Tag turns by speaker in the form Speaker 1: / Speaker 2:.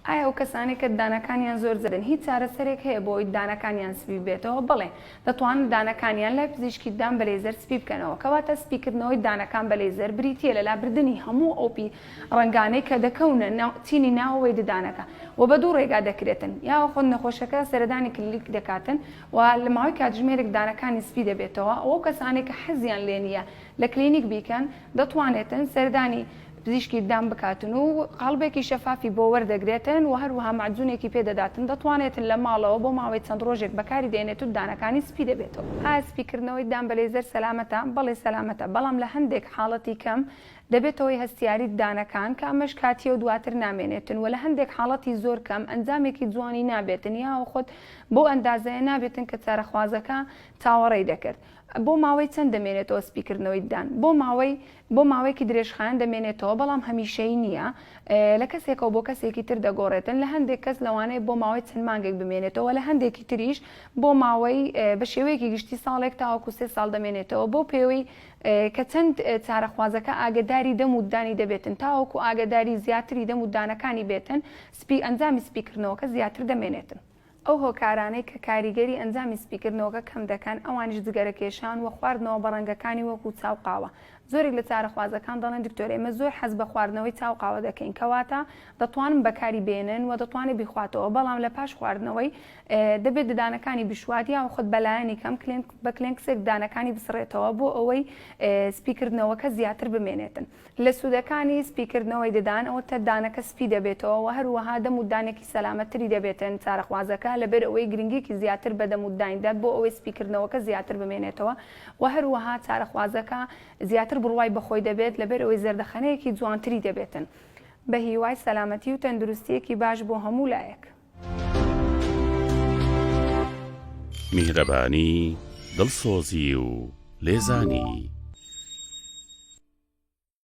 Speaker 1: ئایا ئەو کەسانەی کە ددانەکانیان زۆر زەردن هیچ چارەسەرێک هەیە بۆ ئەوەی ددانەکانیان سپی ببێتەوە؟ بەڵێ، دەتوانن ددانەکانیان لای پزیشکی ددان بە لەیزەر سپی بکەنەوە. کەواتە سپیکردنەوەی ددانەکان بە لەیزەر بریتییە لە لابردنی هەموو ئەو پی ڕەنگانەی کە دەکەونە ناو چینی ناوەوەی ددانەکە و بە دوو ڕێگا دەکرێتن یاخود نەخۆشەکە سەردانی کلینیک دەکاتن و لە ماوەی کاتژمێرێک ددانەکانی سپی دەبێتەوە و ئەو کەسانەی کە حەزیان لێنییە لە کلینیک بیکەن دەتوانێتن سەردانی پزیشکی ددان بکاتن و قاڵبێکی شەفافی بۆ وەردەگرێتن و هەروەها مەعجونێکی پێ دەداتن، دەتوانێتن لە ماڵەوە بۆ ماوەی چەند ڕۆژێک بەکاری دێنێت و ددانەکانی سپی دەبێتەوە. ئایا سپیکردنەوەی ددان بە لەیزەر سەلامەتە؟ بەڵێ سەلامەتە، بەڵام لە هەندێک حاڵەتی کەم دەبێتە هۆی هەستیاری ددانەکان کە ئەمەش کاتییە و دواتر نامێنێتن و لە هەندێک حاڵەتی زۆر کەم ئەنجامێکی جوانی نابێتن یاوە خۆد بەو ئەندازەیە نابێتن کە چارەخوازەکە چاوەڕێی دەکرد. بۆ ماوەی چەند دەمێنێتەوە سپیکردنەوەی ددان؟ بۆ ماوەی بۆ ماوەیەکی درێژخایەن دەمێنێتەوە، بەڵام هەمیشەیی نییە. لە کەسێکەوە بۆ کەسێکی تر دەگۆڕێتن، لە هەندێک کەس لەوانەیە بۆ ماوەی چەند مانگێک بمێنێتەوە و لە هەندێکی تریش بۆ ماوەی بە شێوەیەکی گشتی ساڵێک تاوەکو سێ ساڵ دەمێنێتەوە بەو پێوەی کە چەند چارەخوازەکە ئاگەداری دەم و ددانی دەبێتن تاوەکو ئاگەداری زیاتری دەم و ددانەکانی بێتن سپی ئەنجامی سپیکردنەوەکە زیاتر دەمێنێتن. ئەو هۆکارانەی کە کاریگەری ئەنجامی سپیکردنەوەکە کەم دەکەن ئەوانیش جگەرەکێشان وە خواردنەوە بە ڕەنگەکانی وەکو چا و قاوە زۆرێک لە چارەخوازەکان دەڵێن دکتۆر ئێمە زۆر حەز بە خواردنەوەی چا و قاوە دەکەین کەواتە دەتوانن بەکاری بێنن وە دەتوانێت بیخواتەوە بەڵام لە پاش خواردنەوەی دەبێت ددانەکانی بشوات یاخود بە لایەنی کەم کلێنک بە کلێنکسێک ددانەکانی بسڕێتەوە بۆ ئەوەی سپیکردنەوەکە زیاتر بمێنێتن. لە سوودەکانی سپیکردنەوەی ددان ئەوەتە دانەکە سپی دەبێتەوە و هەروەها دەم و دانێکی سەلامەتتری دەبێتن، چارەخوازەکە لەبەر ئەوەی گرنگیەکی زیاتر بە دەم و ددان دەت بۆ ئەوەی سپیکردنەوەکە زیاتر بمێنێتەوە و هەروەها چارەخوازەکە زیاتر بڕوای بەخۆی دەبێت لەبەر ئەوەی زەردەخەنەیەکی جوانتری دەبێتن. بەهیوای سەلامەتی و تەندروستیەکی باش بۆ هەموو لایەک.
Speaker 2: میهرەبانی دڵسۆزی و لێزانی